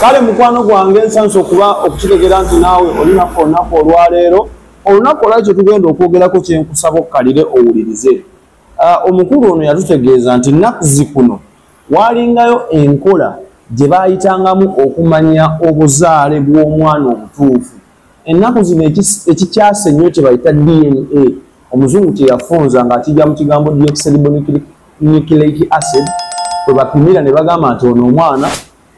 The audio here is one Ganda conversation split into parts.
kale mukwano gwange nsansa okuba okukitegera nti naawe olinaku olunaku olwaleero olunaku olwali kyetugenda okwogerako kyenkusaba okukalire owulirize ah, omukulu ono yatutegeeza nti nakuzi kuno waalingayo enkola gye baayitangamu okumanya obuzaale bw'omwana obutuufu ennaku zino ekikyase nnyo kye bayita dna omuzungu kye yafunza ng'akijja mu kigambo dxlibonicric nucleic acid kwe bapimira ne bagamba nti ono omwana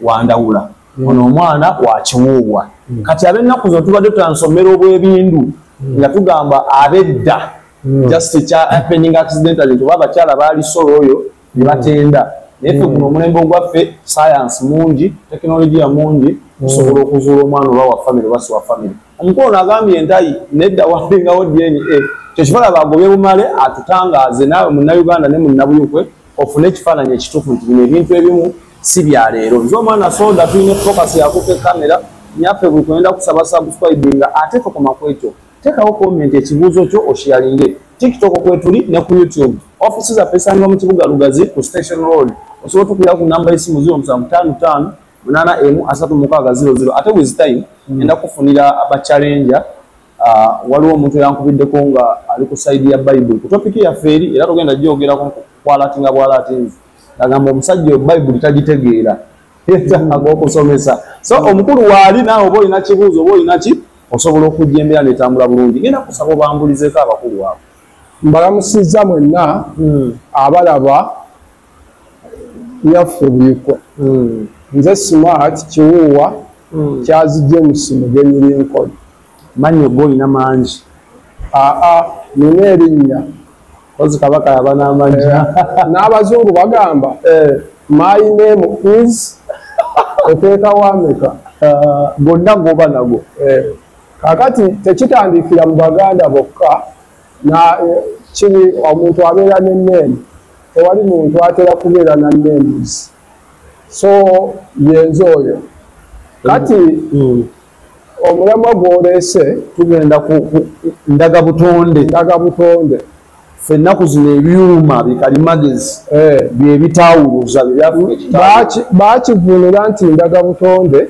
wandawula mm. ono omwana wakiwuubwa mm. kati abennaku zino tubadde tutansomera obwebindu mm. nga tugamba abedda mm. just happening accidentally nti oba abakyala baali solo oyo ne batenda mm. naye fe mm. guno omulembe ogwaffe sayansi mungi tekinologiya mungi tusobola mm. okuzuula omwana oba wa famiry oba si wa famiry Omukulu ono agambye entayi nedda wampingawo DNA kyekiva laba agobe bumale atutangaaze naawe munnayuganda ne munnabuyukwe ofune ekifaananyi ekituufu nti bino ebintu ebimu si bya leero nze omwana soda tulina efokasi yakuka ekamera nyaffe buli kwenda kusaba subscribinga ate tokoma ku ekyo teekawo komenti ekibuuzo kyo oshiyalinge tiktok kwetuli ne ku youtube ofisi zaffe esangibwa mu kibuga lugazi ku station road osobola otukulira ku namba y'essimu 0 55 munana emu asatu mukaaga 00 ate with time mm. enda kufunira aba challenger uh, waliwo omuntu yankubiddeko nga ali ku side ya bible ku topic ya feri era tugenda jogera ku quality nga bwalati nzi agamba omusajja yo bible tagitegeera mm. agokusomesa so mm. omukulu waali naawe oba olina kibuuzo oba olina ki osobola okujja embeera netambula bulungi genda kusaba obambulizeko abakulu abo mbalamusizza mwenna mm. abalaba yaffe buyikwa hmm. nze smart kiwuuwa hmm. kyazijja omusi mugenyi lincoln manyi ogo olina mangi aa nina erinnya kozi kabaka yaba n'amanyi eh, n'abazungu bagamba eh. my name is oteeka wameka eh, gonna goba nago kakati tekitandikira mu baganda bokka na eh, kiri omuntu abeera ne neemu tewali muntu atera kubeera na neemus so yenze oyo kati mm. omulamwa gwoleese tugenda ndaga butonde ndaga butonde fennaku zino ebyuma bikalimagezi eh. byebitawuluza bakivunula nti ndaga butonde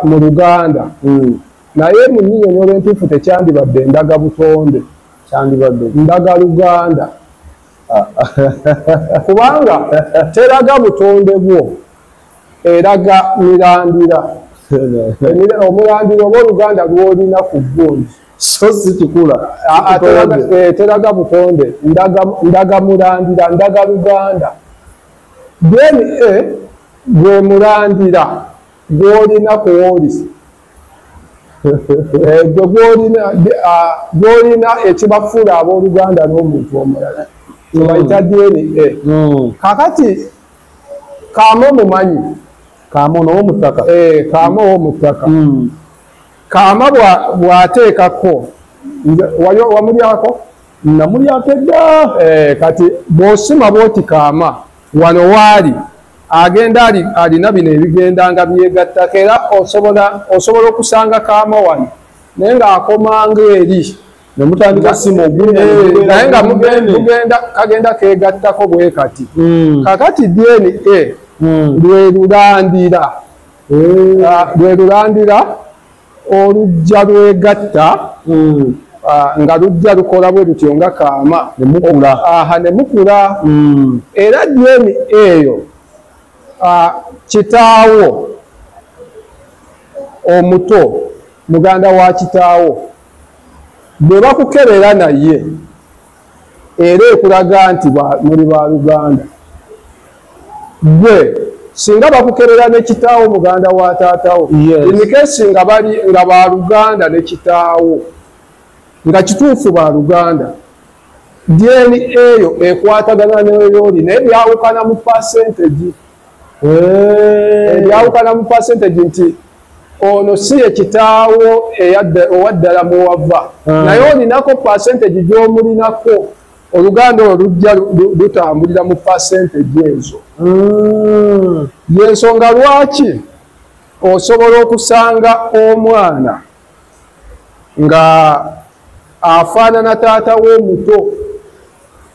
mu luganda hmm. naye mu nyinyonyola entuufu tekyandibadde ndaga butonde kyandibadde ndaga luganda ah. kubanga teraga butonde bwo eraga mirandira omulandira oba oluganda lwolina ku gungi sosi kikula ah, ah, eh, teraga butonde ndaga mulandira ndaga luganda DNA gwe mulandira gwolina kuwolisa eh, gwe gwolina gwolina ekibafuula abooluganda n'omuntu omulala gwebayita mm. DNA mm. kakati kaamu omumanyi kaamu n'omuttaka eh, kaamu owomuttaka mm. kaama bw'ateekako wamulyako namulyako edda eh, kati bwosima bwoti kaama wano waali agenda alina bino ebigenda nga byegattako era osobola okusanga kaama wano naye ng'akomanga eri nemutandika simu eh, naye nga mugenda kagenda kegattako bwe kati hmm. kakati dna hmm. lwerulandira eh. ah, lwerulandira olujja lwegatta mm. ah, nga lujja lukola bwe lutyo nga kaama aha ne mukula mm. era dyeni eyo ah, kitaawo omuto muganda wa kitaawo bwe bakukebera naye era ekulaga nti muli ba luganda gwe singa bakukerera ne kitaawo muganda wa taatawo emikesi nga bali nga ba luganda ne kitaawo nga kituufu ba luganda dna eyo ekwatagana neyooli naye byawukana mu pasentegi ebyawukana mu percentage nti ono si ye kitaawo owaddala muwava ah. naye olinako percentage gyomulinako oluganda olwo lujja lutambulira mu percentage ezo hmm. yensonga lwaki osobola okusanga omwana nga afaanana taata we muto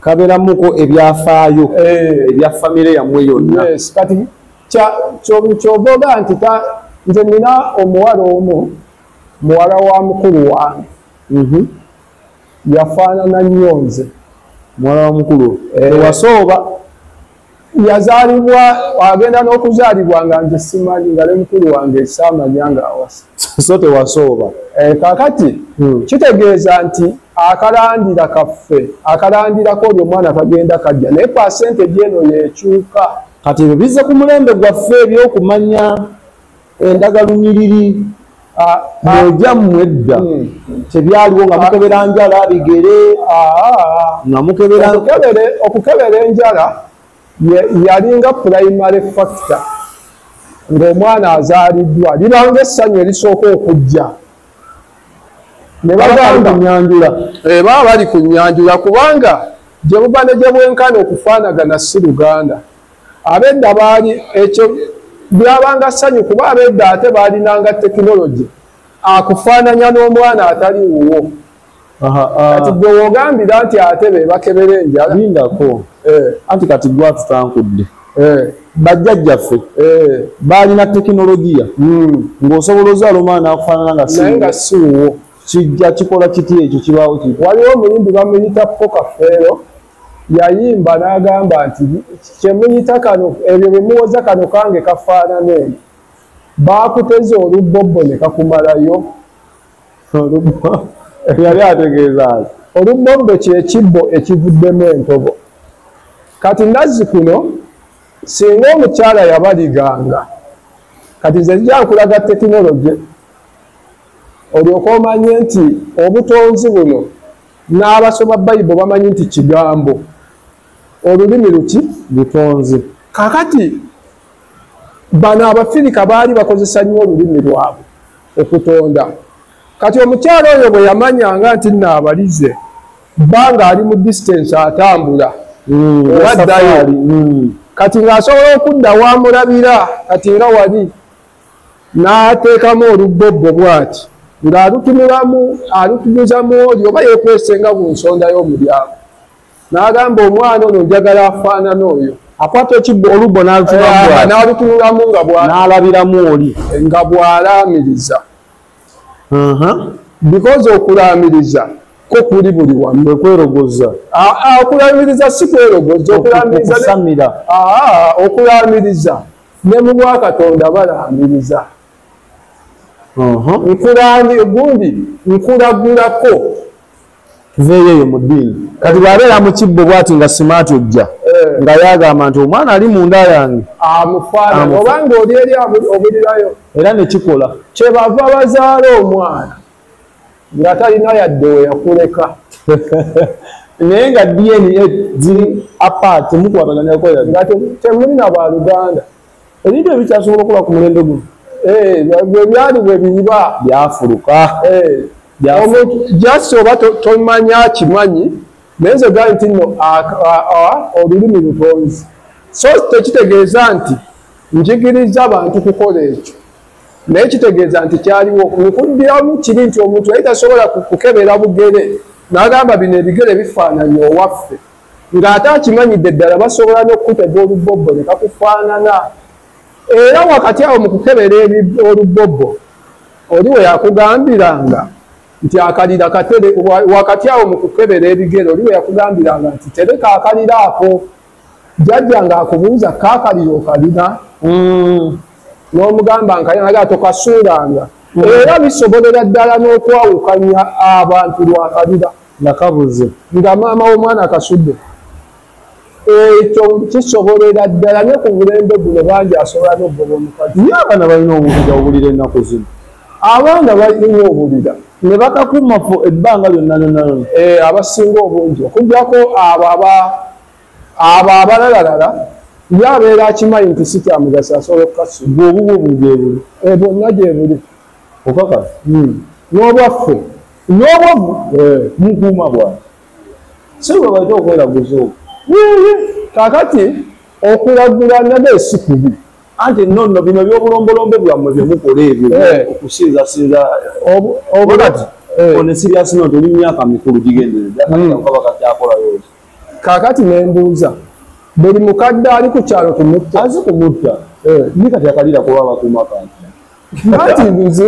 kaberamuko ebyafaayo eh. ebya famire yammwe yonna kati kyova oga nti nze nina omuwala omu muwala wa mukulu wange mhm. yafaanana nnyo nze muwala wa mukulu eh. ewasooba yazalibwa agenda n'okuzalibwa nga nze simanyi nga ne mukulu wange esamanya nga awasa so tewasooba eh, kakati hmm. kitegeeza nti akalandira kaffe akalandirako oli omwana kagenda kajja naye kwa sente gyeno yekyuka kati ebyo bizze ku mulembe gwaffe ebyokumanya endaga lunyiriri mweja mmwe dda hmm. tebyaliwo nga mukebera njala bigere nga mukebera okukebera enjala yalinga primary factor ng'omwana azaaliddwa libanga essanyu erisooka okujja ne bagamba nyanjula eh, baba bali ku nyanjula kubanga gye buba ne gye bwenkana okufaanagana si luganda abedda baali ekyo byabanga ssanyu kuba abedda ate baalinanga tekinologi akufaananya n'omwana atali wuwo kati gwe wogambira nti ate be bakebera enjala lindako eh. anti kati gwe atutankudde eh. bajjajjaffe eh. baalina tekinologiya hmm. ng'osobola ozaala omwana akufaanana nga naye nga si wuwo kijja kikola kiti ekyo kibaawo ki waliwo omuyimbi bamuyita pokafeero yayimba n'agamba nti kyemuyita kano ebyo bye muwoza kano kange kafaanana eno baakuteza olubbobbo ne kakumalayo yali ategeeza nti olubbobbo kyekibbo ekivuddemu entobo kati nazzi kuno singa omukyala yabaliganga kati nze njankulaga tekinologi olyoka omanye nti obutonzi buno n'abasoma bayibo bamanyi nti kigambo olulimi luki lutonze kakati bano abafirika baali bakozesa nnyo olulimi lwabwe okutonda kati omukyalo oyo bwe yamanyanga nti naabalize bbanga ali mu distance atambula mm, oba ddayo mm. kati ng'asobola okudda wamulabira kati nga wali n'ateekamu olubbobbo bw'ati ng'alutunulamu alutunuza mu oli oba yekwesenga ku nsonda y'omulyango n'agamba omwana ono njagala afaanana oyo akwata ekibbo olubbo n'alutunulamu nga n'alabiramu oli nga bw'alaamiriza because okulaamiriza ko kuli buli wamu ekwerogoza okulaamiriza si kwerogoza okulaamiriza okulaamiriza ne mu bwakatonda balangiriza nkulangi gundi nkulagulako tuveeyo eyo mu ddiini kati bwabeera mu kibbo bwati nga simaati ojja eh. nga yagamba nti omwana ali munda yange amufaanaobanga oli eri obulirayo era nekikola kyebava bazaala omwana nga talina yadde weyakuleka naye nga dna ziri apart temukwataganako yadde nga temulina baluganda ebintu ebikyasobola okuba ku mulembe guno eh, bwebyali bwebiyiba byafuluka eh, jasi oba tomanya kimanyi naye nze gali nti no olulimi lutonzi so tekitegeeza nti njigiriza bantu kukola ekyo naye kitegeeza nti kyaliwo mukuddiramu kiri nti omuntu yali tasobola kukebera bugere nagamba bino ebigere bifaananye owaffe ng'ate akimanyidde ddala basobola n'okukutega olubobbo ne kakufaanana era wakati awo mu kukebera olubobbo oli we yakugambiranga nti akalira katere wakati awo mu kukebera ebigere oli we yakugambiranga nti tereka akalira ako jajja nga akubuuza kakaliro okalina mm. n'omugamba nkalinagala tokasuulanga mm. era bisobolera ddala n'okwawukanya abantu lwakalira nakabuze nga maama w'omwana akasudde ekyo kisobolera ddala ne ku bulembe guno bangi asobola n'ogoba omukati ye abana balina obuziga obulira ennaku zino abaana balina obulira ne bakakuuma fo ebbanga lyonna lyonna lyonna eh, abasinga obungi okujjako abo aba abo abalalalala ye abeera akimanyi nti si kyamugaso asobola okukasi gwe obubwo bugyebuli eh, bwonna gyebuli okaka hmm. n'obwaffe n'obwavu eh. mukuuma bwawe si bwe baita okweraguza oku kakati okulagula nade si kubi anti nonno bino byobulombolombo bwammwe byemukola ebyo eh. okusinza sinza obulati eh. one serious note oli myaka mikulu gigenderezaakakyakolao hmm. kakati nembuuza buli mukadde ali ku kyalo kumutta aze kumutta eh. ni kati akalira kuba bakumaka anti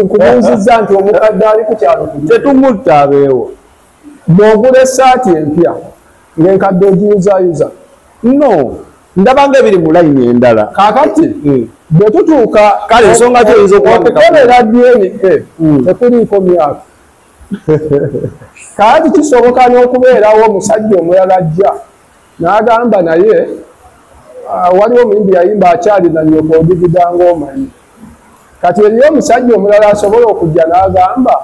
kubuuzizza nti omukadde ali ku kyalo tetumutta abeewo bwogula esaati empya ngenkadde ogiyuzayuza no ndabanga ebiri mu layini endala kakati hmm. bwe tutuuka kale ensonga ki oyinza okuwakukebera dna hmm. tekuliiko myaka kakati kisoboka n'okubeerawo omusajja omulala ajja n'agamba naye ah, waliwo omuyimbi yayimba akyali nanyoko odigidanga omanyi kati eriyo omusajja omulala asobola okujja n'agamba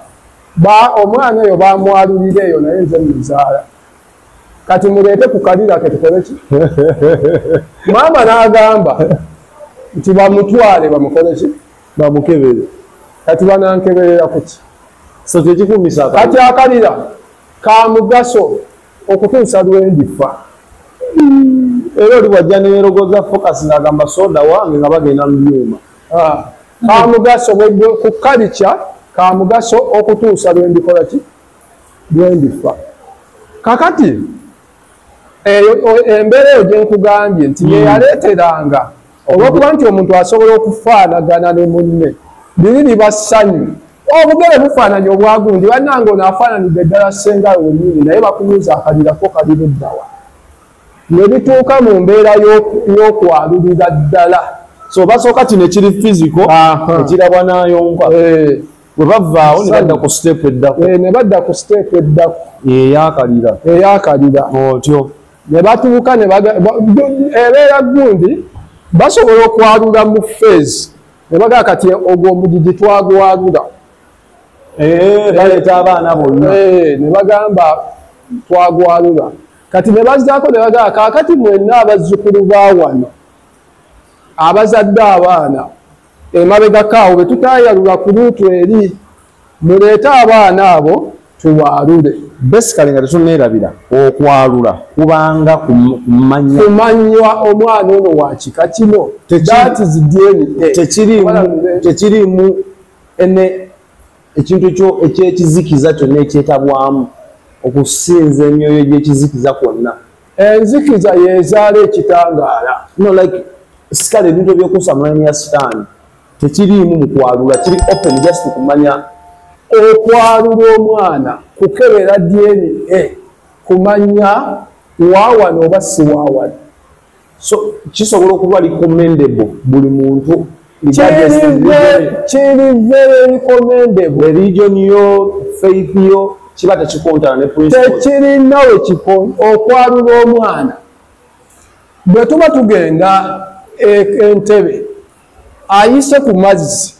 ba omwana oyo bamwalulira eyo naye nze muzaala kati muleete ku kalira ke tukole ki maama n'agamba nti bamutwale bamukole ki bamukebere kati banankeberera ku ki so kyekikuumisa kati akalira ka mugaso okutuusa lwendifa era oli bwajja neyerogoza focus ng'agamba soda wange nga bagenda mu byuma ah, kamugaso ku kalica kamugaso okutuusa lwendikola ki lwendifa kakati eyo embeera eyo gyenkugambye nti hmm. yeyaleeteranga olwokuba nti omuntu asobola okufaanagana ne munne biri liba ssanyu obugere bufaananyi obwagundi bannange ono afaananidde ddala ssengawe wenyini naye bakubuuza akalirako kaliruddawa ne bituuka mu mbeera y'okwalulira ddala so basooka kino ekiri fiziko ekirabwa nayonka eh. bwe bavaawo ne badda ku siteepu eddako eh, ne badda ku siteepu eddako eyakalira eyakalira otyo ne batuuka ebeera gundi basobola okwalula mu feezi ne bagaa kati ogwo omugigi twagwalula eh, baleeta abaana bonna ne bagamba twagwalula kati ne bazzaako ne bagamba kaakati mwenna abazzukulu ba wano abazadde abaana emabegako awo be tutayalula ku luutu eri muleete abaana abo tuwaalule besikale nga tetuneerabira okwalula kubanga kumanywa omwana ono wakika kino tekiriimu ekintu kyo ekyekizikiza kyonna ekyetabwamu okusinza emyoyo gyekizikiza kwonna enzikiza yezaala ekitangaala no like sikala ebintu ebyokusa mulanyi ya sitaani tekiriimu mukwalula kiri open just kumanya okwalula omwana kukebera dna kumanya wawano oba siwawano so kisobola okuba recommendable buli muntu religion yo faith yo kiba tekikontana ne tekirina wekikon okwalula omwana bwe tuba tugenda e, entebe ayise ku mazzi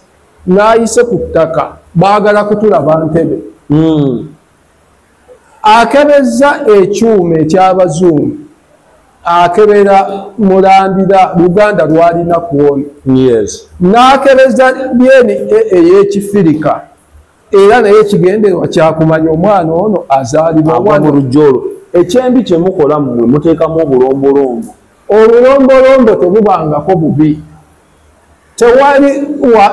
n'ayise ku ttaka baagala kutulaba ntebe hmm. akebeza ekyuma ekyabazungu akebera mulandira luganda lwalina kuona yes. nakebeza byeni e, eyekifirika era naye kigenderwa kyakumanya omwana ono azalibwawanulujolo ekyembi kyemukola mwe mutekamu obulombolombo obulombolombo tebubangako bubi tewali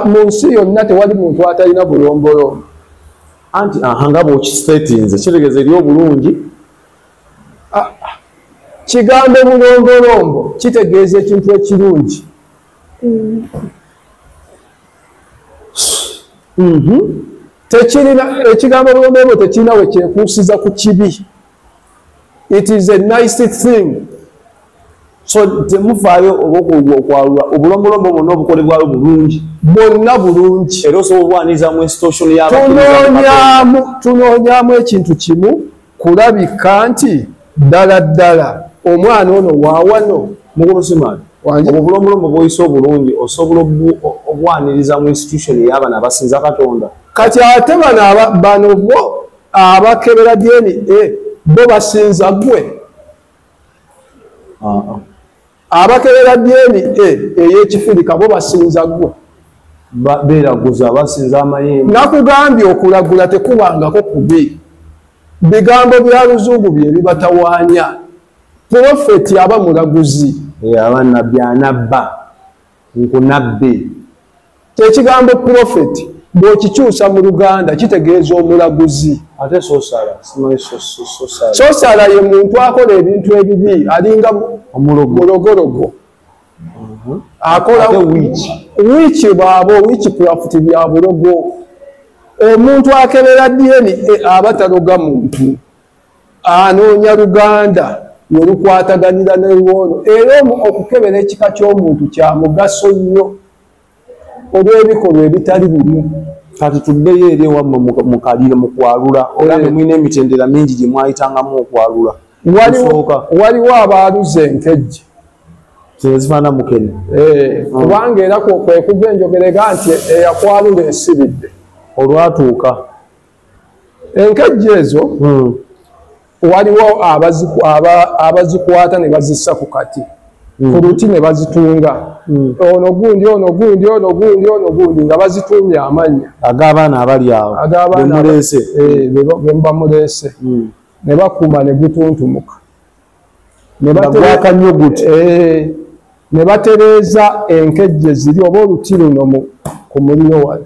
mu nsi yonna tewali muntu atalina bulombolombo anti aha nga bwokisetinze kitegeeza eri obulungi ah, ah. kigambo bulombolombo kitegeeza ekintu ekirungi mhm. tekirina ekigambo bulombolombo tekirina wekyekuusiza ku kibi it is a nice thing so temufaayo obaokuwa okwalula obulombolombo bwonna obukolebwayo bulungi bwonna bulungi era osobola obwanizamu institution yatunonyamu tunonyamu ekintu kimu kulabika nti ddala ddala omwana ono wawano mugulusimaani obwo bulombolombo bwoyisa obulungi osobola obwaniriza mu institution eyabana abasinza katonda kati ate bano bano bwo abakebera dna bo basinza gwe abakebera dna eyekifirika bo basinza gwe beraguza basinza amayembe nakugambye okulagula tekubangako kubi bigambo bya luzungu byebibatawanya profeti aba mulaguzi abanabbi anabba nkunabbi kyekigambo prophet bwokikyusa mu luganda kitegeeza omulaguzi ate sosala simanyi sosala sosala ye muntu akola ebintu ebibi alinga omulogologo mhm. akola wiiki wiiki bwaba wiiki kulafuti bya bulogo omuntu akebera dna aba taloga muntu anoonya luganda werukwataganira newoono era omu okukebera ekika ky'omuntu kya mugaso nnyo olw'ebikolwa ebitali bimu kati tuddeyo eri ewammwe mu kaliro mu kwalula olabye mulina emitendera mingi gye mwayitangamu okwalula waliwo abaaluza enkejje zezifaana mukene eh, mm. kubanga era kwekuva enjogerega nti eyakwalula esiridde olwatuuka enkejje ezo hmm. waliwo abazikwata ne bazissa ku kati hmm. ku luti ne bazitunga hmm. ono gundi ono gundi ono gundi ono gundi nga bazituumye amannya ag'abaana abali awo ag'abaanamuleese eh, bemubamuleese ne bakuuma ne gutuntumuka nebagwakannyo guti eh, ne batereeza enkejje ziri oba oluti luno ku muliro wano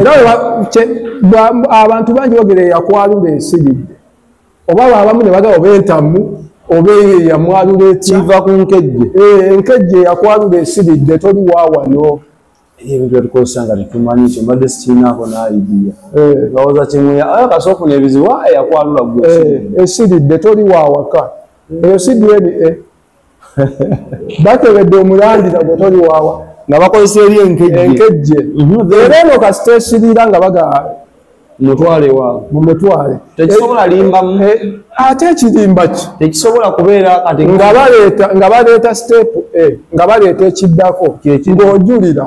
era abantu bangi bagera eyakwalula ensigidde oba baabamu ne bagaba oba entamu oba eyo eyamwalula ekiva ku nkejje eh, enkejje eyakwalula ensigidde toli waawano ebintu etukozesanga tetumanyi ekyo mbadde sikiinaako naidiya bawoza eh. kimuya ayo kasoofu nebizibu eyakwalula gwe esiridde eh, toli wawaka eyo sidieni e bakebedde omulandira gwe toli waawa nga bakozesa eri enkejje mhm. era eno kasita esibira nga baga mutwale waawe mumutwale tekisobola eh, limbamu eh, ate ekirimba ki tekisobola kubeera kati nga baleeta nga baleeta step a nga baleeta ekiddako ng'ojulira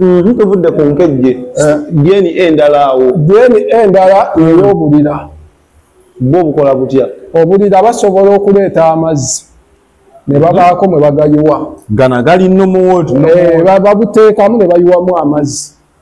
Mhm. tuvudde ku nkejje eh. dna endala awo dna endala eyobulira mhm. bwo obukola butya obulira basobola okuleeta amazzi ne babaako mwe bagayiwa gana gali nomuwood eh, babuteekamu ne bayiwamu amazzi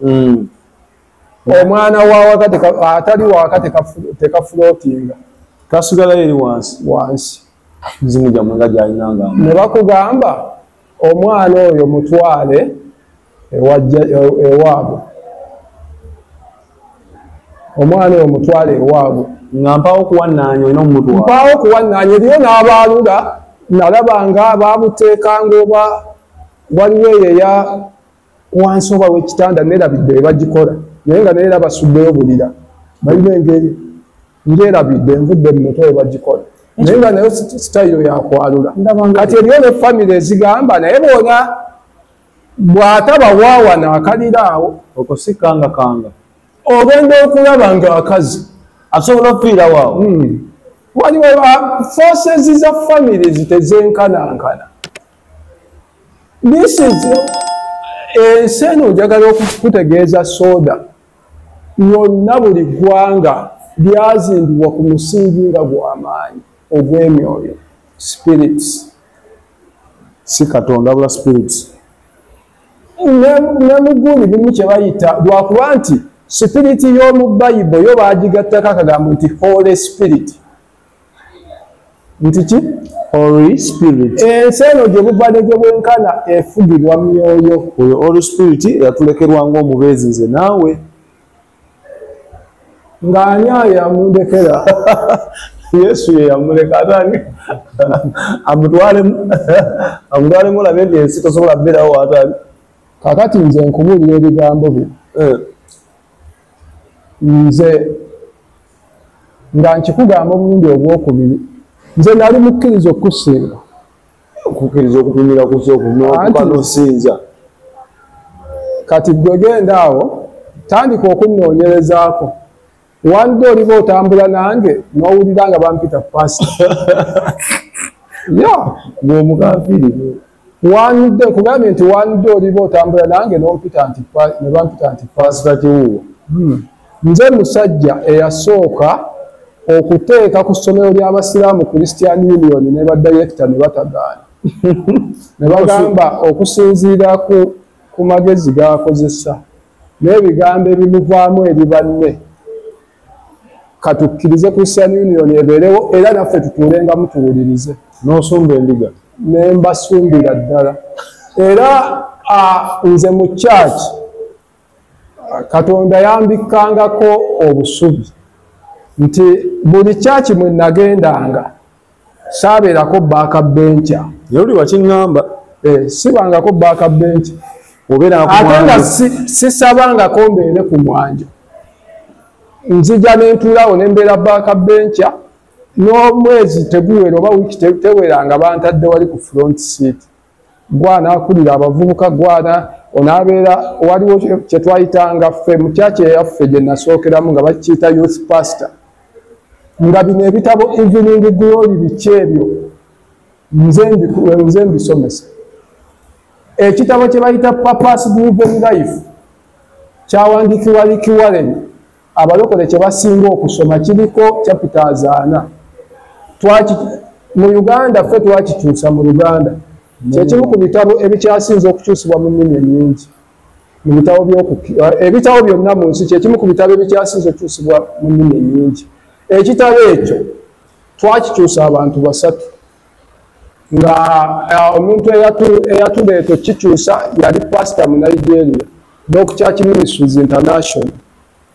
hmm. omwana wawakati atali wawakati tekafulotinga kasigala eri wansi wansi mizimu gyamwe nga gyalinanga ne bakugamba omwana oyo mutwale ewaabwe omwana oyo mutwale ewaabwe nga mpawo okuwanaanya olina omutwa mpawo okuwanaanya eriyo n'abaalula nalaba nga baamuteekanga oba waliwo eyo eya wansi oba wekitanda nerabidde webagikola naye nga naye era basuddeyo bulira balina engeri ngerabidde envudde mu mutwe webagikola naye nga nayo sitayiro yakwalula kati eriyo ne famiry ezigamba naye bona bwataba wawana akalira awo okusikanga kanga ogenda okulaba nga akazi asobola okufiira waawo hmm. waliwo forces za famiry zitezenkanankana this is ensi eh, eno njagala okukutegeeza soda yonna buli ggwanga lyazimbibwa ku musingi nga gwamaanyi ogw'emyoyo spirits si katonda bula spirits nemugundi bimu kyebayita lwakuba nti sipiriti y'omu bayibo yo bagigattako akagambo nti holy spirit nti ki holy spirit ensi eno gye buvadde gye bwenkana efugibwa myoyo oyo holy spirit eyatulekerwanga omubeezi nze naawe ng'ani ayamundekera yesu yeyamuleka atani amutwalemu amutwalemu olabe nti ensi tosobola kubeerawo watali kakati nze nkubuulira ebigambo bye eh. nze nga nkikugamba omulundi ogwokubiri nze nali mukkiriza okukusinga okukkiriza okupimira kuki okunosinza kati gwe genda awo tandika okunnoonyerezaako wandde oliba otambula nange n'owulira nga bampita pasita ya gweomukafiri wanudde nkugambye nti wanudde oliba otambula nange nompita nti nebampita nti fasirati wuwo hmm. nze musajja eyasooka okuteeka ku ssomero ly'abasiraamu christian union ne badirekita ne batagaana ne bagamba okusinziira ku magezi g'akozesa n'ebigambo ebimuvaamu eri banne katukkirize christian union ebeerewo era naffe tutuulengamu tuwulirize nosumba endiga ne mbasumbira ddala era nze mu kyaki katonda yambikkangako obusubi nti buli kyaki mwe nagendanga saabeerako baaka benca naye oli wakiŋŋamba eh, sibangako baaka benca ate nga sisabangako mbeere ku mwanjo nzija nentuulawo ne mbeera baaka benca n'omwezi teguwera oba wiiki teweranga bantadde wali ku front seat gwana akulira abavubuka gwana onaabeera waliwo kyetwayitanga ffe mukyaki eyaffe gye nasookeramu nga bakiyita youth pastor nga bino ebitabo evening glory biki ebyo nze mbisomesa ekitabo kye bayita papas driven life kyawandiikibwa likiwaleni abalokole kyebasinga okusoma kiriko chapters ana twaki mu uganda ffe twakikyusa mu luganda kyekimu ku bitabo ebikyasinza okukyusibwa mu nnimi enyingi ebitabo byonna mu nsi kyekimu ku bitabo ebikyasinza okukyusibwa mu nnimi enyingi ekitabo ekyo twakikyusa abantu basatu nga eh, omuntu eyatuleeta okukikyusa yali pasita mu nigeria n'okukyakiminisuz international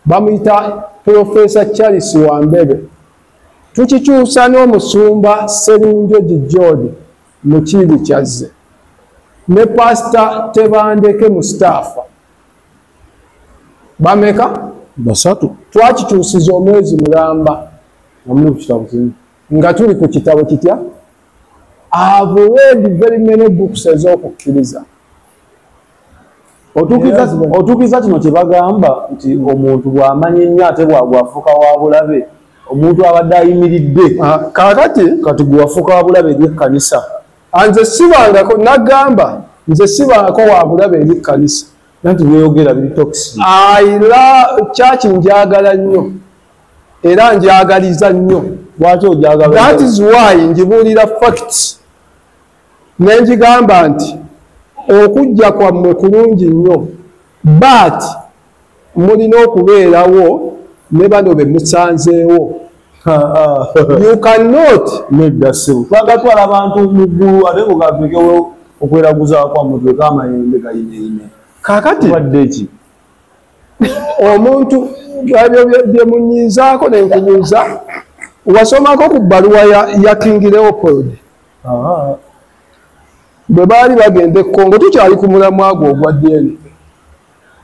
bamuyita pulofeesa charles wambebe tukikyusa n'omusumba serunjogi george mukiibi kyazze ne pasita tebandeke mu sitaafa bameka basatu twakikyusiza omwezi mulamba nga tuli ku kitabo kitya avoedi very many books ez'okukkiriza otuukiza kino kye bagamba nti omuntu bw'amanya ennyo ate bwagwafuka wa bulabe omuntu abadde ayimiridde ah, kakati kati gwewafuka wa bulabe eri ekkanisa ah, nze sibangako nagamba nze sibangako wa bulabe eri ekkanisa nanti byeyogera biri tokisi aira kyaki njagala nnyo era njagaliza nnyo lwaki ojagala that is why njibuulira facts ne ngigamba nti okujja kwammwe kulungi nnyo bat mulina okubeerawo ne bano be musanzeewo you cannot bagatwala abantu muggulu ate ngogatukewo okweraguza kwammwe tweka amayembe gayineine kakati wadde eki omuntu byemunyiizaako nenkubuuza wasomako ku bbaluwa ya king leopold bwe baali bagenda e kongo tukyali ku mulamwa gwe ogwa dna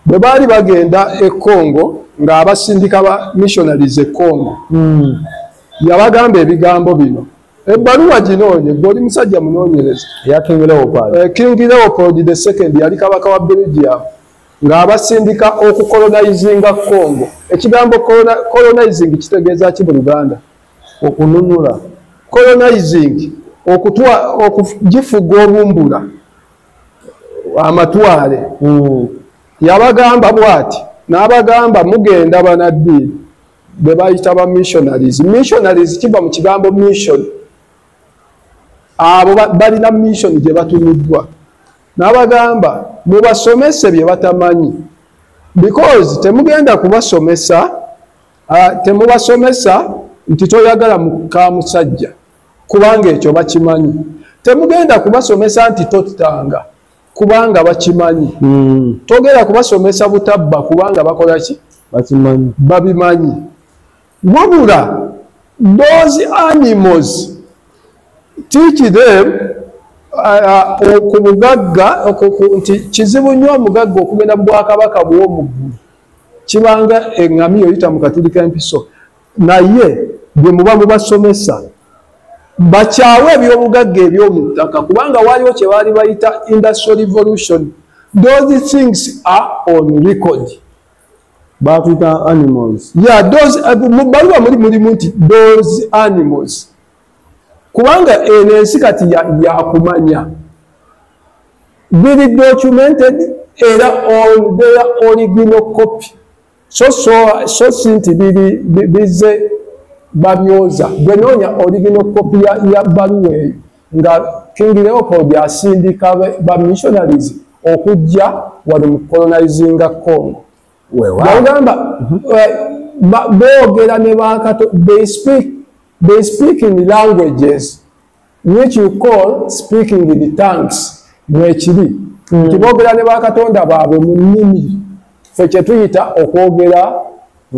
bwe baali bagenda e kongo ng'abasindika ba missionaries e kongo hmm. yabagamba ebigambo bino ebbaluwa ginoonye gwe oli musajja munoonyereza eya king leopold eh, king leopold the second yali kabaka wa belgium ng'abasindika okukolonizinga congo ekigambo colonizing kitegeeza ki mu luganda okununula colonizing okutwa okugifuga olumbula amatwale hmm. yabagamba bwati n'abagamba mugenda banaddiini be bayita ba missionaries missionaries kiva mu kigambo mission abo balina mission gye batumiddwa n'abagamba mubasomese bye batamanyi because temugenda kubasomesa Ah, temubasomesa nti toyagala ka musajja kubanga ekyo bakimanyi temugenda kubasomesa nti tottanga kubanga bakimanyi hmm. togenda kubasomesa butabba kubanga bakola ki babimanyi wabula those animals teach them ah, ah, ku bugagga nti kizibu nnyo omugagga okugenda mu bwakabaka bw'omuggulu kibanga engamiya oyita mu katuli k'empiso naye bwe muba mubasomesa bakyawe ebyobugagga eby'omu ttaka kubanga waaliwo kye baali bayita industrial revolution those things are on record baatuta animals ya those mu bbaluwa muli mulimu nti those animals kubanga eno ensi kati yakumanya biri documented era olbera original copy so so so sinti biri bize babyoza bwenonya original copy ya, ya baluwa eyo nga king leopold asindika ba missionaries okujja wali mu colonizing congo yagamba mhm. uh, boogera ne bakato they speak they speak in languages which you call speaking in tongues mwekiri mm. nti boogera ne bakatonda baabwe mu nnimi fe kyetuyita okwogera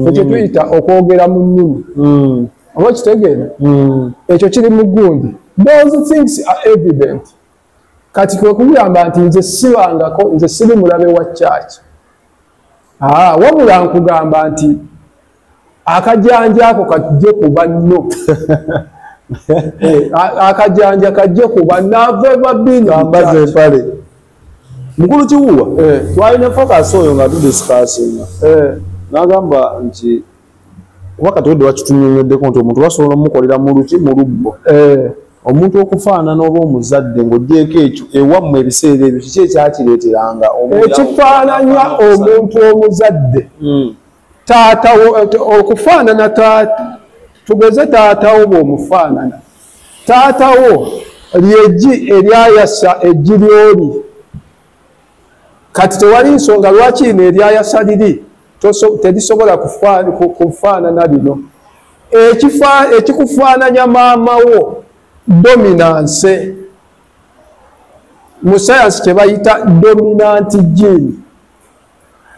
fe kyetuyita okwogera mu nnimi mm. oba kitegeera mm. ekyo kiri mu gundi those things are evident kati kwekugamba nti nze sibangako nze siri mulabe wa kyaki aa ah, wabula nkugamba nti akajanja ako kajje ku banno eh, akajanja kajje ku bannave babinambaze empale mukulu kiwuwa eh. twalina fokasi oyo nga tudisikasinga eh. nagamba nti kuba katwedde wakitunyonyoddeko nti omuntu basobola omukolera mu luki mu lubbo eh. omuntu okufaanana oba omuzadde ng'ogyeko ekyo ewammwe ebiseera ebyo kiki ekyakireeteranga ekifaananya omuntu omuzadde hmm. taata okufaanana taata tugeze taatawo bw'omufaanana taatawo lyeggi eryayasa eggi lyoli kati tewali nsonga lwaki lino eryayasa liri terisobola kufaanana bino ekikufaananya maama wo dominanse mu sayansi kyebayita dominanti jiini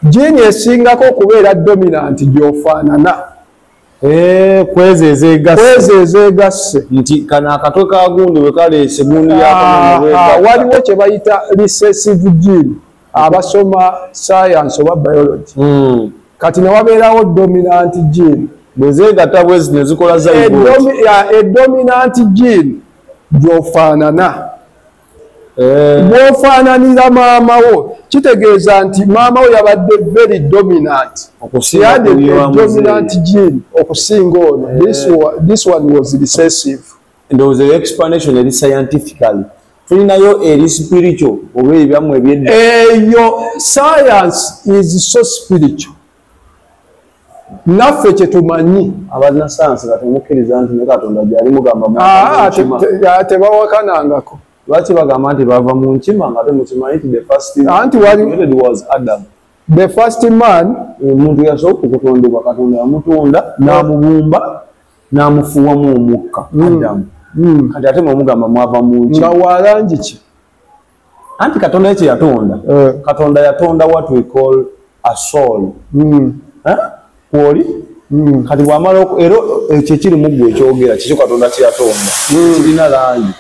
jiini esingako okubeera dominanti gyofaanana Eh, kwezo ezegasse nti kano akatwe kagundi wekaleese gundi yawaliwo kyebayita recessive gene abasoma science oba biology hmm. kati newabeerawo dominant gene bwezegatta bwezi nezikola edominant eh, gene gyofaanana eh. bwofaananira maama wo kitegeeza nti maama wo yabadde very dominant dominant gene okusinga ono eh. this one was recessive ndowooza eyo explanation eri scientifically tulinayo eri spiritual oba ebyamu ebyedda eyo science is so spiritual naffe kyetumanyi abanasayansi batemukkiriza nti ne katonda gyali mugamba ah, ah, tebawakanangako lwaki bagamba nti bava mu nkima nga te mukimanyi ti the first anti wali was adam the first man omuntu eh, yasooka okutondebwa katonda yamutonda n'amubumba n'amufuuwamu omukka hmm. adamu hmm. kati ate mwemugamba mwava mu nkima nga walangi ki anti katonda ekyo yatonda eh. katonda yatonda what we call a soul hmm. eh? kwoli hmm. kati bwamala era ekyo ekiri muggwe ekyogera kikyo katonda kyeyatonda hmm. kirina langi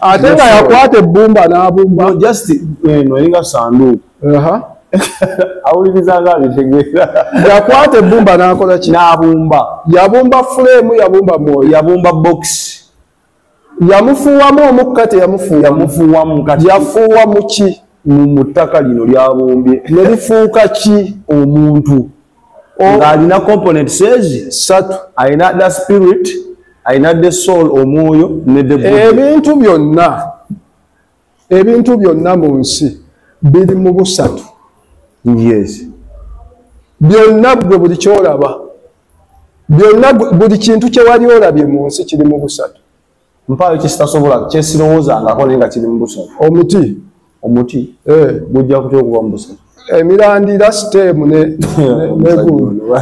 ate nga yakwata ebbumba n'abumba just eno eringa sanduuku awuliriza nga abitegeera yakwata ebbumba n'akola ki n'abumba yabumba fuleemu yabumba mwoyo yabumba bokisi yamufuuwamu omukka teyamufuuwamu kati yafuuwa muki mu ttaka lino lyabombye ne lifuuka ki omuntu ng'alina component sezi satu alina the spirit alina the soul omwoyo ne the ebintu byonna ebintu byonna mu nsi biri mu busatu yes byonna gwe buli kyolaba byonna buli kintu kyewali olabye mu nsi kiri mu busatu mpaayo kyesitasobola kyesirowoozangako naye nga kiri mu busatu omuti omuti eh. gujja kutya okuba mu busatu emirandira siteemu negulu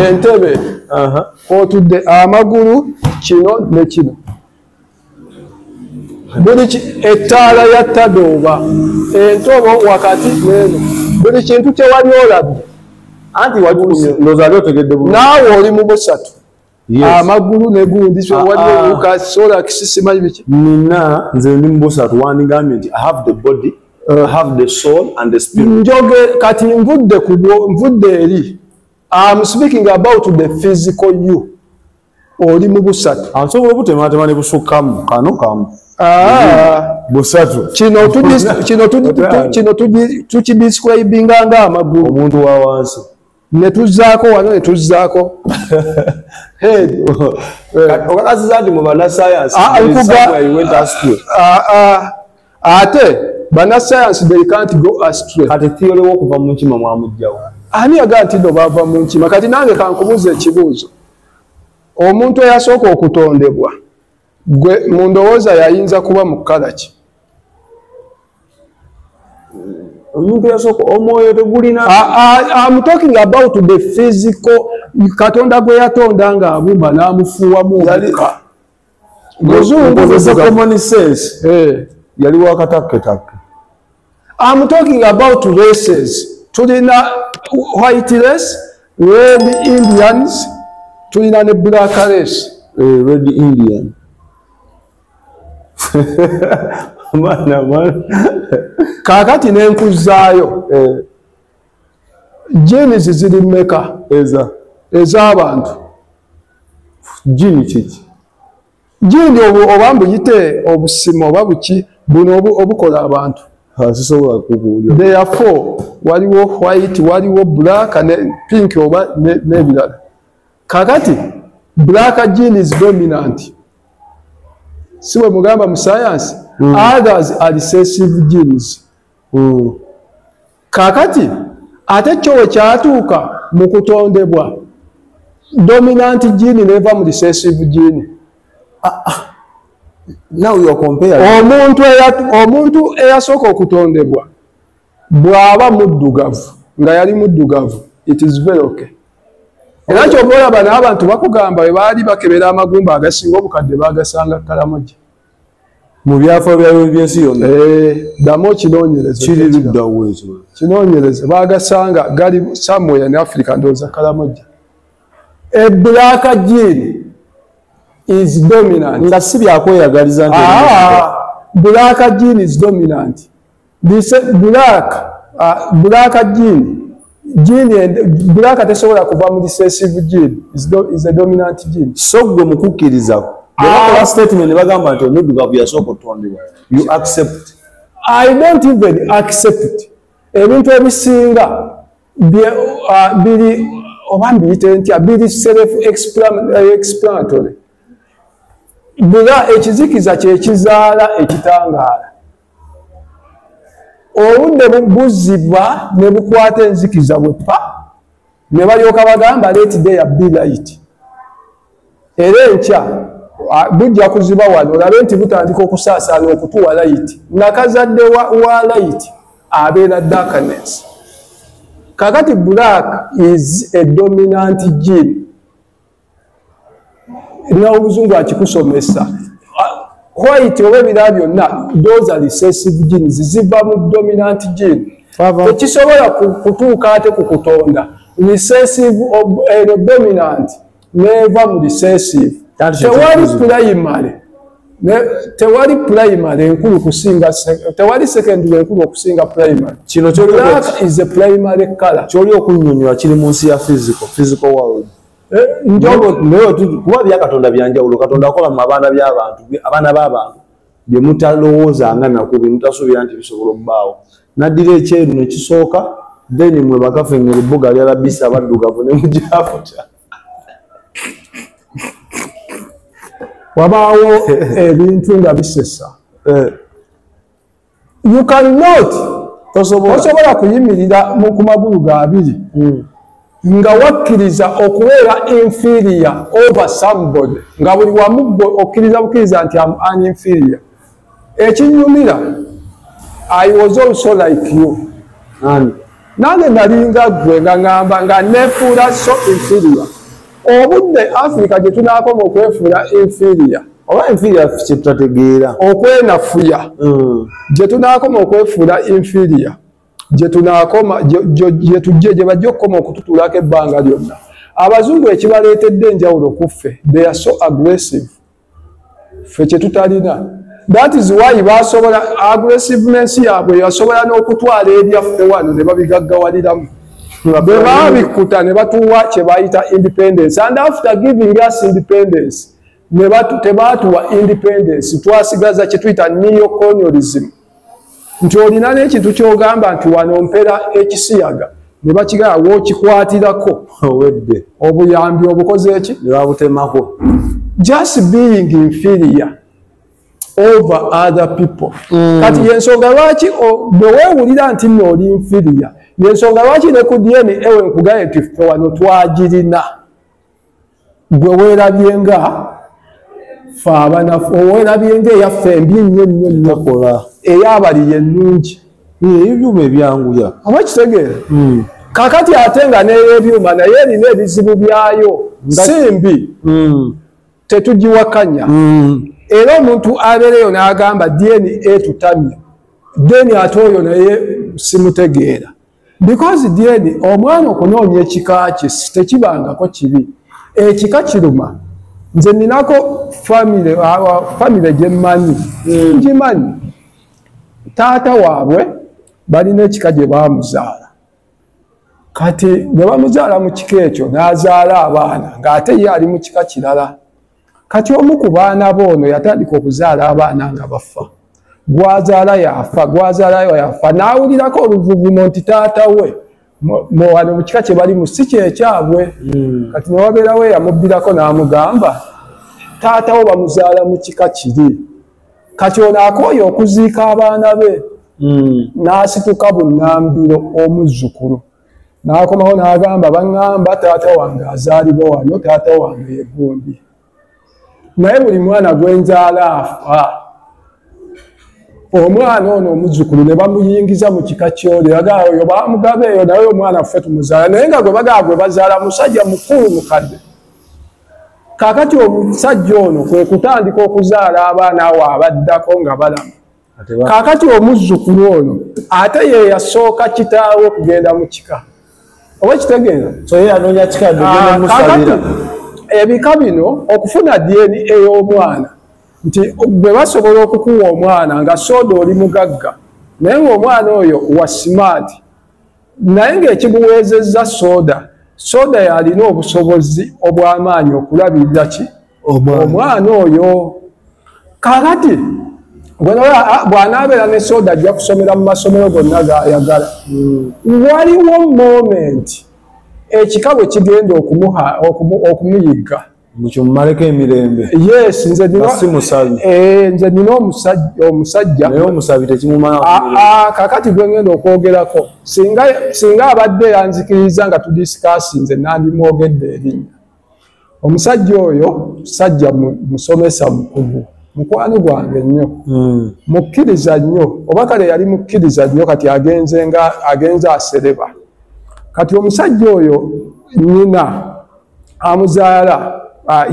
entebe otudde amagulu kino ne kino buli ettaala ya tadooba entobo wakati neno buli kintu kyewali olabye anti nozali otegedde naawe oli mu busatu amagulu negundi waliuka ah, ah. sola kisisimanyi biki nina nze ndi mu busatu wandigambye nti i have the body uh, have the soul and the spirit njoge kati nvudde kubwo nvudde eri am speaking about the physical you oli mu busatu ansobola obutematema ne busukkamu kano kamu ah. busatu kino tukidiscribinga nga amagulu omuntu wa wansi ne tuzzaako wano ne tuzzaako okakasiza nti mu banasayansi ah, ah, ate banasayansi they can't go astray kati theory wokuva mu nkima mwamujjawo ani yagaa nti no baava mu nkima kati nange kankubuuza ekibuuzo omuntu eyasooka okutondebwa gwe mu ndowooza yayinza kuba mu kkala ki omuntu yasooka omwoyo tegulina am talking about the physical katonda gwe yatonda ng'abumba n'amufuuwamu omukka muzungu zeza common sense eh. yali wakataketakke am talking about races tulina white race red indians tulina ne black race eh, red indian kakati nenkuzaayo eh. jini ziziri meka ez'abantu jini kiki jini oba mbuyite obusima oba buki buno obukola abantu sisobola kubuulira therefore waliwo white waliwo black ne pink oba n'ebirala kakati black gene is dominant si bwe mugamba mu science mm. others are recessive genes mm. kakati ate kyo wekyatuuka mu kutondebwa dominant gene neva mu recessive gene ah, ah. omuntu eyasooka okutondebwa bw'aba muddugavu nga yali muddugavu it is very okay era kyova olaba n'abantu bakugamba bwe baali bakebera amagumba agasinga obukadde bagasanga kalamoja mu byafaayo byayo byensi yonna eh, ddamu okinoonyerezakiriruddawo ekyo kinoonyereze baagasanga gali samuel ne africa ndowooza kalamojja ebulaaka jiini is dominant nga si byakweyagaliza ah, bulaaka jiini is dominant This black, uh, black gene, gene and black atesobola kuva mu recessive gene is, do, is a dominant gene. So gwe mukukiriza. Bwe ah. bakola statement ne bagamba nti omuddugavu yasooka okutondebwa. You accept. I don't even accept. Ebintu ebisinga uh, biri oba mbiyite ntya biri self uh, explanatory. Bula ekizikiza kye kizaala ekitangaala. obudde buguzibwa ne bukwata enzikiza bweppa ne balyoka bagamba letday abilit era enkya bujja kuziba wano olabe nti butandika okusaasaana okutuwa layiti nakazadde wa layiti abeera darkness kakati black is a dominant gene ebirabo obuzungu akikusomesa white oba ebirabo byonna those are recessive genes ziva mu dominant gene tekisobola kutuuka ate ku kutonda recessive eh, dominant neva mu recessive tewali primary tewali primary enkulu kusinga tewali secondary enkulu okusinga primary kino kyoli okunyonyola kiri mu nsi ya physical physical world Eh, kuba byakatonda byanjawulo katonda akola mu abaana byabantu abaana babantu byemutalowoozanga nako byemutasuubira nti bisobola okubaawo naddira ekyeru nekisooka then mwe bakafe mu lubuga lyalabisa abaddugavu ne mujafuta wabaawo ebintu nga bisesa eh. you cannot tosobola kuyimirira ku magulu ga abiri hmm. nga wakkiriza okubeera inferior over somebody nga buli wamu gwe okkiriza bukkiriza nti am an inferior ekinyumira i was also like you Amen. nange nalinga ggwe nga ŋŋamba nga neefuula so inferior obudde afrika gye tunaakoma okwefuula inferior oba inferior kye tutategeera okwenafuya hmm. gye tunaakoma okwefuula inferior gye tunaakoma gye tujje gye bajja okukoma okututulako ebbanga lyonna abazungu ekibaleetedde enjawulo ku ffe they are so aggressive ffe kyetutalina that is why basobola aggressiveness yaabwe yasobola n'okutwala ebyaffe wano ne babigaggawaliramu bwe babikuta ne batuwa kye bayita independence and after giving us independence tebaatuwa independence twasigaza kye tuyita neocolonialism nti olina n'ekintu kyogamba nti wano mpera ekisiyaga ne bakigaya wokikwatirako owedde obuyambi obukoze eki nebabutemako just being inferior over other people mm. kati yensonga lwaki bwewewulira nti nno oli inferior yensonga lwaki ne ku dna ewe nkugaye nti ffe wano twagirina gwe weerabye nga fe abanafu oweerabye nga eyaffe embi nnyo nnyo nnyokola eyabaliyo ennungi ebyuma ebyanguya oba kitegeera hmm. kakati ate nga neyebyuma naye erina ebizibu byayo si mbi hmm. tetugiwakanya hmm. era omuntu abeereyo n'agamba dna etutamye deni ate oyo naye simutegeera because dyeni omwana okunoonya ekika kye tekibangako kibi ekika kiruma nze ninako famire gyemmanyi ngimanyi taata waabwe balina ekika gye bamuzaala kati bwe bamuzaala mu kika ekyo n'azaala abaana ng'ate ye ali mu kika kirala kati omu ku baana be ono yatandika okuzaala abaana nga bafa gwazaala yafa gwazaalayo yafa n'awulirako oluvuvumo nti taata we muwano mu kika kye balimu si kyekyabwe hmm. kati newabeerawo eyamubbirako n'amugamba taata wo bamuzaala mu kika kiri kati ono akooye okuziika abaana be hmm. n'asituka bunnambiro omuzzukulu n'akomawo n'agamba baŋŋamba taata wange azaalibwa wano taata wange yegundi naye buli mwana gwe nzaala afa omwana ono omuzukulu ne bamuyingiza mu kika kyoleagaa oyo bamugaba eyo naye omwana ffe tumuzaala naye nga gwe bagaa gwe bazaala musajja mukulu mukadde kakati omusajja ono kwe kutandika okuzaala abaana awo abaddako nga balama kaakati omuzzukulu ono ate ye yasooka kitaawe okugenda mu kika oba kitegeeza ebika bino okufuna dna ey'omwana nti bwe basobola okukuwa omwana nga sooda oli mugagga naye ng'omwana oyo wa simaati naye ng'ekimuweezezza soda soda yalina obusobozi obw'amaanyi okulabirira ki omwana oyo kakati Ah, bw'anaabeera ne soda ajja kusomera mu masomero gonna gayagala hmm. waliwo moment ekika bwe kigenda okumuyigga mukimumaleko emirembe yes nze nina si musabi eh nze nina omusajja omusajja naye omusabi tekimumala ah, ah kakati gwe ngenda okwogerako singa singa abadde yanzikiriza nga tudiscuss nze nandi mwogedde erinya omusajja oyo sajja musomesa mukulu mukwano gwange nnyo hmm. mukkiriza nnyo oba kale yali mukkiriza nnyo kati agenze nga agenze asereba kati omusajja oyo nyina amuzaala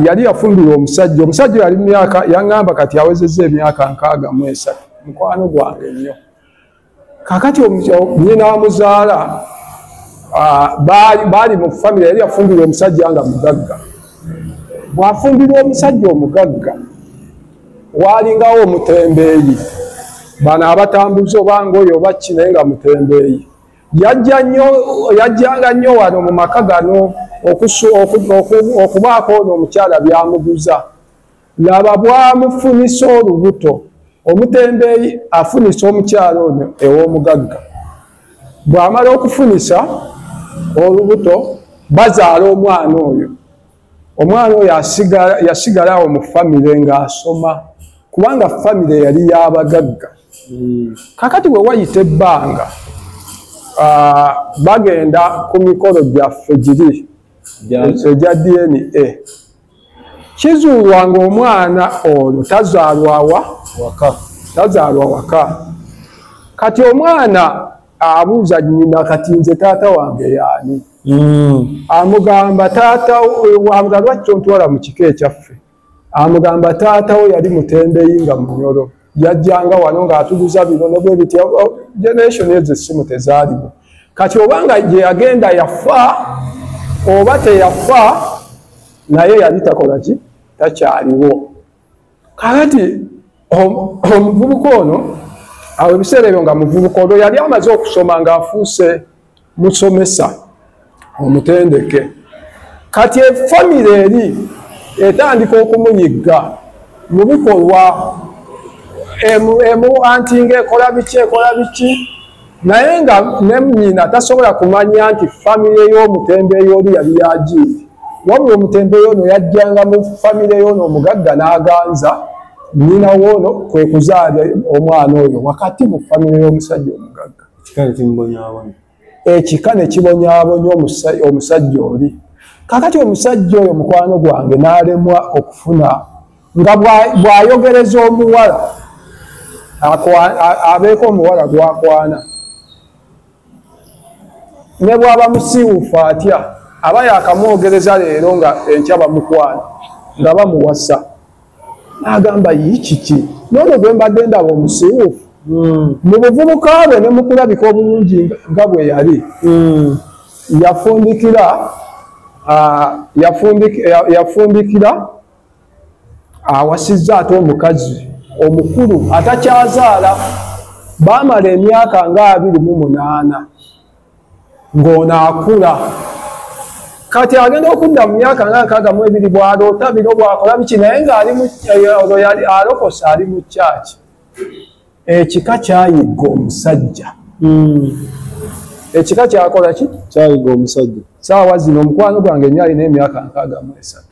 yali yafumbirwa omusajja omusajja yali mumyaka yaŋamba kati awezeza emyaka nkaaga mu esatu mukwano gwange nnyo kakati nyina amuzaala baali mu famire yali yafumbirwa omusajja nga mugagga bwafumbirwa omusajja omugagga waalingawo omutembeeyi bano abatambuza obanga oyo obakki naye nga mutembeeyi yajjanga nnyo wano mu maka gano okubaako ono omukyala byamuguza laba bwamufunisa olubuto omutembeeyi afunisa omukyala ono ew'omugagga bw'amala okufunisa olubuto bazaala omwana oyo omwana oyo yasigala awo mu famire ng'asoma kubanga famire yali y'abagagga hmm. kakati bwe wayita ebbanga Ah, bagenda ku mikolo gyaffe giri egya dna kizuulwa ngaomwana ono tazaalwawa tazaalwa waka kati omwana abuuza nnyina kati nze taata wange yaani hmm. amugamba taata wange lwakki ontwala mu kika ekyaffe amugamba taata wo yali mutembeyi nga munyolo yajjanga wano ng'atuguza bino nebwe biti oh, oh, generation ezo essimu tezaaliwo kati oba nga gye yagenda yafa oba teyafa naye yali takola ki takyaliwo kakati omuvubuka ono awo ebiseera ebyo nga muvubuka olwo yali amaze okusoma ng'afuuse musomesa omutendeke kati efamire eri etandika okumunyigga mu bikolwa emuwantinga ekola biki ekola biki naye nga ne nnyina tasobola kumanya nti famire y'omutembeeyi oli yali yagiiri wabula omutembeeyi ono yajjanga mu famire y'ono omugagga n'aganza nnyina woono kwe kuzaala omwana oyo wakati mu famire y'omusajja omugagga ekika ne kibonyabonya omusajja oli kakati omusajja oyo mukwano gwange n'alemwa okufuna nga bw'ayogereza omuwala abeeko omuwala gwakwana ne bwaba musiiwufu atya aba yakamwogereza leero nga enkya bamukwana nga bamuwasa agamba yi kiki noono gwe mbadde ndaba omusiiwufu hmm. mu buvubuka bwe ne mukulabika obulungi nga bwe yali hmm. yafundikira ah, yafundikira awasizza ate omukazi omukulu atakyazaala baamala emyaka nga abiri mu munaana ng'ono akula kati agenda okudda mu myaka nga nkaaga mu ebiri bwaloota bino bwakola biki naye ng'ali ono yali alokose ali mu kyaki ekika kyayigga omusajja hmm. ekika kyakola ki kyayiga omusajja saawa zino omukwano gwange nyo alina emyaka nkaaga mu esatu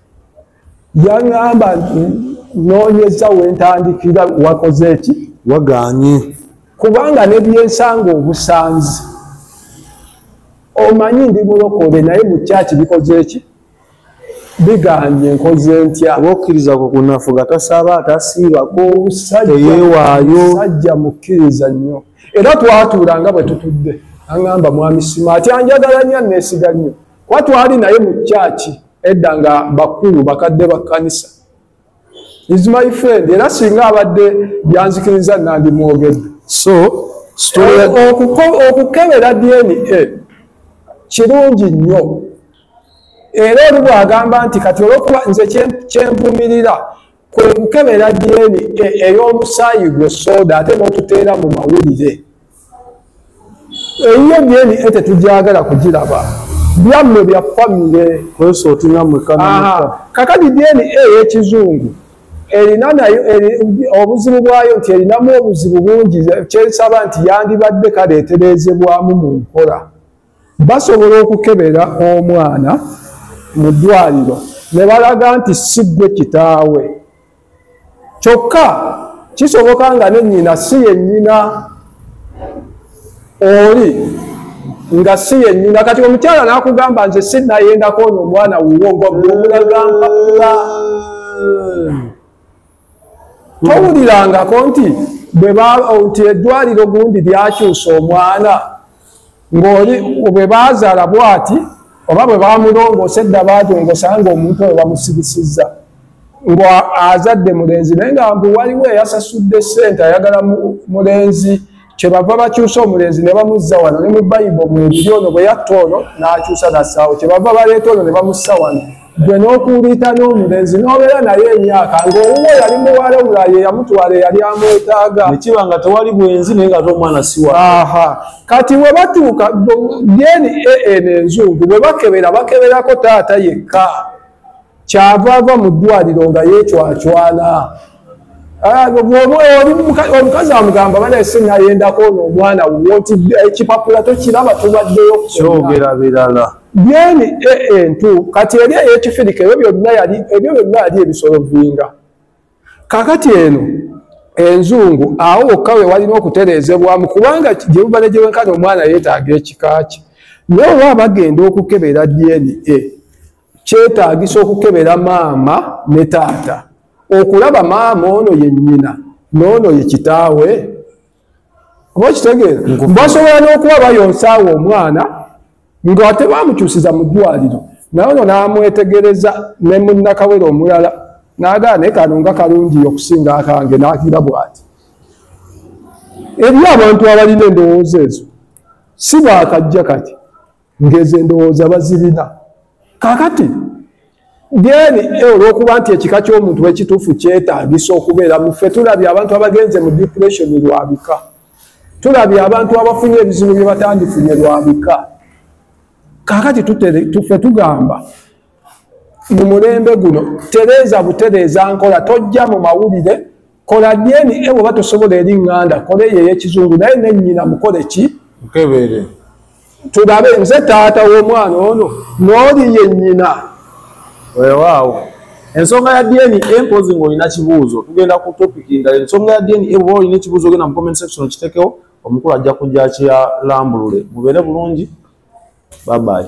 yaŋŋamba nti noonyeza wentandikira wakoze eki waganye kubanga nebyensanga obusanzi omanyi ndi mulokole naye mukyaki bikoze eki biganye nkoze ntya obaokkiriza ku kunafuga tasaba atasiibako eyewaayo sajja mukkiriza nnyo era twatuula nga bwe tutudde aŋŋamba mwami sima ati anjagala nnyo nneesiga nnyo kuba twali naye mu kyaki edda nga bakulu bakadde ba kkanisa is my friend era singa abadde byanzikiriza nandimwogedde so okukebera dna kirungi nnyo era oli bwagamba nti kati olwokuba nze kyenvumirira kwe kukebera DNA ey'omusaayi gwe sooda ate n'otuteera mu mawulire eyiyo DNA tetugyagala kugiraba byammwe bya famire kakati DNA ey'ekizungu erina nayo obuzibu bwayo nti erinamu obuzibu bungi kyensaba nti yandibadde kaleeterezebwamu mu nkola basobola okukebera omwana mu ddwaliro ne balaga nti si ggwe kitaawe kyokka kisoboka nga ne nnyina si yennyina oli nga si yennyina kati omukyala n'akugamba nze si nayendako ono omwana wuwo nga omulagambaula towulirangako nti nti eddwaliro gundi lyakyusa omwana ngoli bwe bazaala bwati oba bwe bamulongoosa edda bajongosa nga omuntu oyo bamusibisizza nga azadde mulenzi naye nga mbu waliwo eyasasudde sente ayagala mulenzi kyebava bakyusa omulenzi ne bamuzza wano ne mu bayibo mwebiri ono bwe yatta ono n'akyusa nassaawo kyebava baleeta ono ne bamussa wano gwe n'okuuliita n'omulenzi n'obeera naye emyaka ng'owuwo yali muwala omulala ye yamutwala eyali amwetaaga nekiba nga tewali bwenzi naye nga tomwana siwa aha kati bwe batuuka dna enzungu bwe bakebera bakeberako taata yekka kyava ava mu ddwaliro nga yecwacwana ah, omukazi amugamba bana ese nayendako no omwana wuwo nti eh, ekipapula tokiraba tubaddeyo kyogera birala byeni entu eh, eh, kati eri eyekifirika ebyo byonna yali ebyo byonna yali ebisolo vinga kakati eno enzungu awo wokka we walina okutereezebwamu kubanga gyebuba ne gyewenkana omwana yeetaaga ekika kye naye oba bagenda okukebera dna kyetaagisa okukebera maama ne taata okulaba maama ono ye nnyina n'ono ye kitaawe oba okitegeera basobola n'okuba bayonsaawo omwana ng'ate bamukyusiza mu ddwaliro naye ono n'amwetegereza ne munnakawere omulala n'agaa naye kano nga kalungi okusinga akange n'akira bwati ebyo abantu abalina endowooza ezo si bakajja kati ngezo endowooza bazirina kakati byeni eh, olwokuba nti ekika ky'omuntu ekituufu kyetaagisa okubeera mufe tulabye abantu abagenze mu depression lwabika tulabye abantu abafunye ebizibu bye batandifunye lwabika kakati tufe tugamba mu mulembe guno tereeza butereeza nkola tojja mu mawulire kola dna e bwoba tosobola eri ŋŋanda kola eyo ey'ekizungu naye nennyina mukole ki mukebere tulabe nze taata w'omwana ono n'oli ye nnyina weewaawo ensonga ya dna empozi ng'olina kibuuzo tugenda ku topiki ndala ensonga ya dna e bwoba olina ekibuuzo ogenda mu comment section kitekewo omukulu ajja kujja kyeyalambulule mubeere bulungi babayi